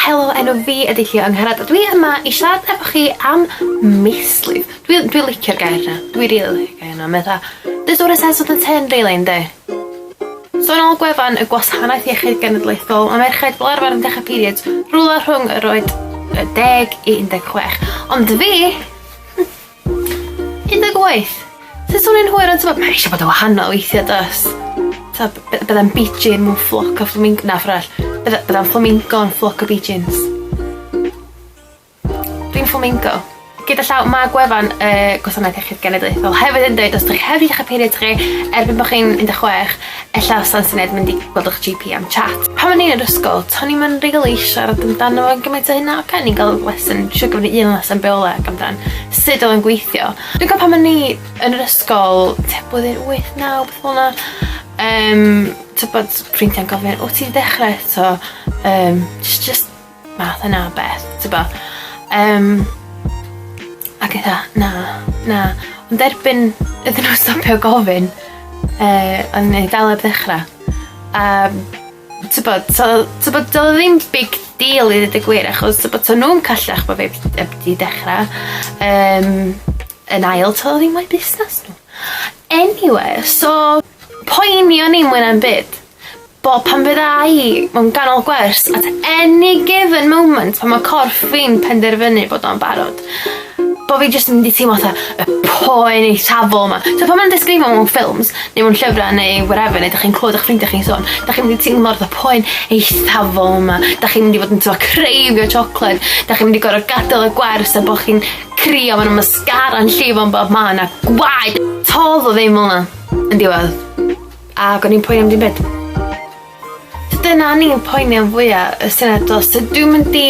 Helo, enw fi ydy Llio Angharad a dwi yma i siarad efo chi am mislif. Dwi, dwi licio'r gair na. Dwi rili really licio'r gair na. Mae dda. Does o'r sense of the ten really ynddi? So yn ôl gwefan y Gwasanaeth Iechyd Genedlaethol, mae merched fel arfer yn dechrau periods rhywle rhwng yr oed 10 i 16. Ond fi, 18. Sut swn i'n hwyr yn tymor? Mae eisiau bod yn wahanol weithiau dos. So, byddai'n beijing mewn ffloc o fflaming... Na, ffordd arall. Byddai'n flamingo yn ffloc o beijings. Dwi'n flamingo. Gyda llaw, mae gwefan y Gwasanaeth Iechyd Genedlaethol hefyd yn dweud os ydych chi hefyd eich period chi erbyn bod chi'n 16 Ella sa'n syniad mynd i gweld ych GP am chat. Pan o'n i yn yr ysgol, to'n i'm yn rili siarad amdano fo gymaint o hynna, oce o'n i'n ga'l lesson, siŵr gafon ni un lesson bioleg amdan sud odd o'n gweithio. Dwi'n cofio pan o'n i yn yr ysgol tua blwyddyn wyth naw beth fel 'na yym t'bod ffrindia'n gofyn o ti'n dechre eto? Yym jys jyst Math yna o beth, tybo. Um, ac eitha, na, na. Ond erbyn iddyn nhw stopio gofyn, uh, o'n i'n dal eb ddechrau. A, tybo, tybo, dyl ddim big deal i ddweud y gwir, achos tybo, to nhw'n callach bod fi eb di dechrau. Um, yn ail, to ddim o'i busnes nhw. Anyway, so, poeni o'n i'n mwyn am byd. Bo pan fydda i mewn ganol gwers at any given moment pan ma' corff fi'n penderfynu bod o'n barod bo fi jyst yn mynd i teimlo fatha y poen eithafol 'ma. T'o' pan ma' nw'n disgrifio mewn ffilms neu mewn llyfra neu whatever neu 'dach chi'n clwad 'ych ffrindia chi'n sôn 'dach chi'n mynd i teimlo fatha poen eithafol 'ma 'dach chi'n mynd i fod yn t'mo' creifio tsiocled 'dach chi'n mynd i gor'o' gadal y gwers a bo' chi'n crio ma' 'na mascara'n llifo yn bob man a gwaed. To'dd o ddim fel 'na yn diwedd. Ag o'n i'n poeni am dim byd. So dyna o'n i'n poeni am fwya, y syniad o sut dwi'n mynd i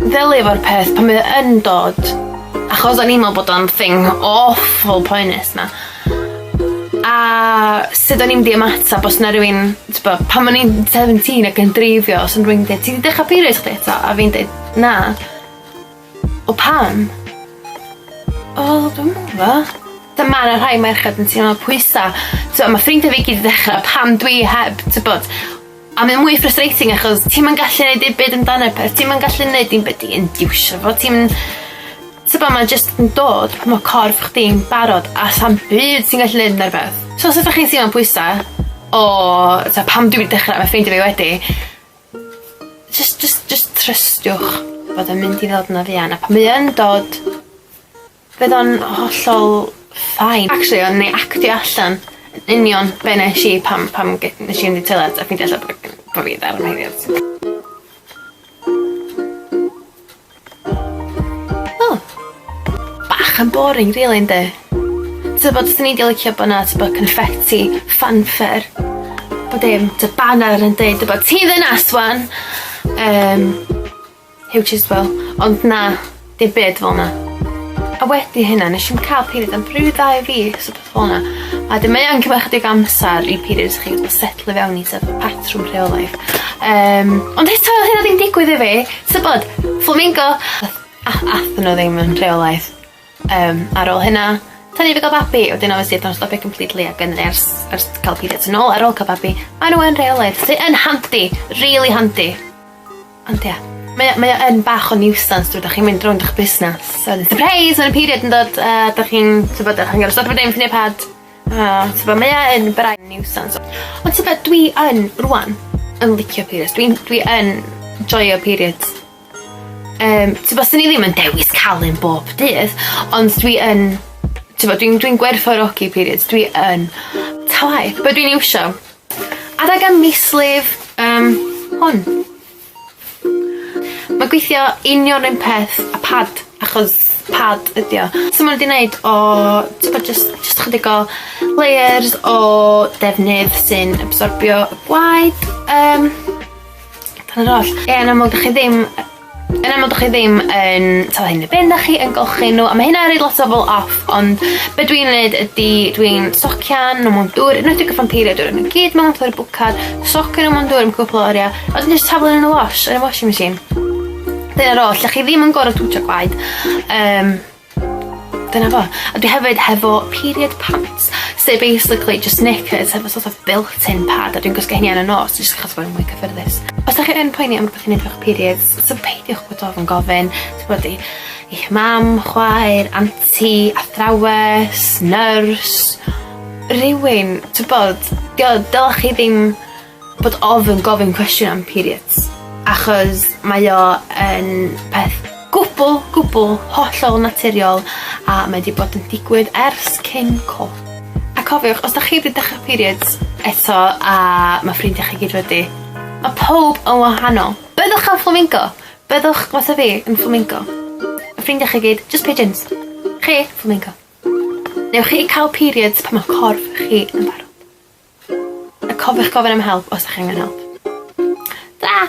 ddelio efo'r peth pan mae o yn dod. Achos o'n i'n meddwl bod o'n thing awful poenus 'na. A sut o'n i'n mynd i ymateb os 'na rywun t'bo' pan o'n i'n seventeen ac yn dreifio os o'n rywun deud ti 'di dechra period chdi eto? A fi'n deud na. O pam? O dwi'm yn gwbo. T'o' ma' 'na rhai merched yn teimlo pwysa'. T'o' ma' ffrindia fi gyd 'di dechra pan dwi heb t'bod a mae o mwy frustrating achos ti'm yn gallu neud dim byd amdano fe ti'm yn gallu neud dim byd i indiwsio fo ti'm t'bo' ma'n jyst yn dod pan ma' corff chdi'n barod a sa'm byd ti'n gallu neud arno fe. So os ydach chi'n teimlo'n pwysa' o t'o' pam dwi 'di dechra ma' ffrindia fi wedi Jyst jyst jyst trystiwch bod o'n mynd i ddod yn afian a pan mae yn dod bydd o'n hollol fine. Actually o'n i actio allan yn union be' nesh i pan pan ge- nesh i fynd i'r toiled a ffeindio allan bo' fi 'di dal yn heulio. O! Bach yn boring rili yndi? Tybed swn i 'di licio bo' 'na t'bo' confetti, fanfare bo' dim t'o' baner yn deud t'bo' ti ddynas ŵan yym Huw Chiswell ond na dim byd fel 'na. A wedi hynna nesh i'm ca'l period am ryw ddau fis so Fel 'na. A 'dyn mae yn cymryd chydig amser i periods chi i setlo i fewn i sort of patrwm rheolaidd. Yym ond eto o'dd hynna ddim digwydd i fi. Tybod? Flamingo! Ath ath athon n'w ddim yn rheolaidd. Yym ar ôl hynna tynnu fi ga'l babi wedyn obviously nath o stopio completely ag yn ers ers ca'l periods yn ôl ar ôl ca'l babi. Ma' n'w yn rheolaidd sy yn handi. Rili handi. Ond ia. Mae o mae o yn bach o niwsans t'mod dach chi'n mynd rownd 'ych busnas a wedyn sypreis ma' 'na period yn dod a dach chi'n t'bod a chi'n gor'o' stopio dim neu pad a t'bo' mae o yn braidd niwsans. Ond t'bod dwi yn rŵan yn licio periods dwi'n dwi yn joio periods. Yym t'bo' swn i ddim yn dewis ca'l un bob dydd ond dwi yn t'bo' dwi'n dwi'n gwerthfawrogi periods dwi yn. Ta waeth be' dwi'n iwsio Adeg y mislif um, hwn. Mae gweithio union yn peth a pad, achos pad ydi o. So maen nhw wedi gwneud o, ti'n bod, just, just chydig o layers o defnydd sy'n absorbio y gwaed. Um, Dyna'r oll. Ie, yn amlwg, dych chi ddim Yn aml dych chi ddim yn talu hyn yn y bin, dych chi yn golchi nhw a mae hynna yn rhoi lot o bobl off ond be dwi'n neud ydy dwi'n socian nhw mewn dŵr yn enwedig y Ffampeiria dŵr maen nhw gyd mewn fatha bwcad socio nhw mewn dŵr am cwpl o oriau a wedyn jyst taflu nhw yn y wash yn y washing machine. Dyna'r oll, dych chi ddim yn gor'o' twtsio gwaed yym Dyna fo. A dwi hefyd hefo period pants sy basically jyst knickers hefo sort of built-in pad a dwi'n gwisgo hynny ar y nos jyst achos bod e'n mwy cyffyrddus. Os dach chi yn poeni am rwbeth i neud efo'ch periods so peidiwch bod ofn gofyn t'bod i i'ch mam, chwaer, anti, athrawes, nyrs, rywun t'bod 'di o dylech chi ddim bod ofn gofyn cwestiwn am periods, achos mae o yn peth gwbl, gwbl hollol naturiol a mae 'di bod yn digwydd ers cyn co. A cofiwch os 'dach chi 'di dechre periods eto a ma' ffrindia chi gyd wedi, ma' powb yn wahanol. Byddwch yn fflamingo. Byddwch, fatha fi, yn fflamingo. A ffrindia chi gyd, jyst pigeons. Chi, fflamingo. Newch chi ca'l periods pan ma' corff chi yn barod. Cofiwch gofyn am help os 'dach chi angen help. Tara!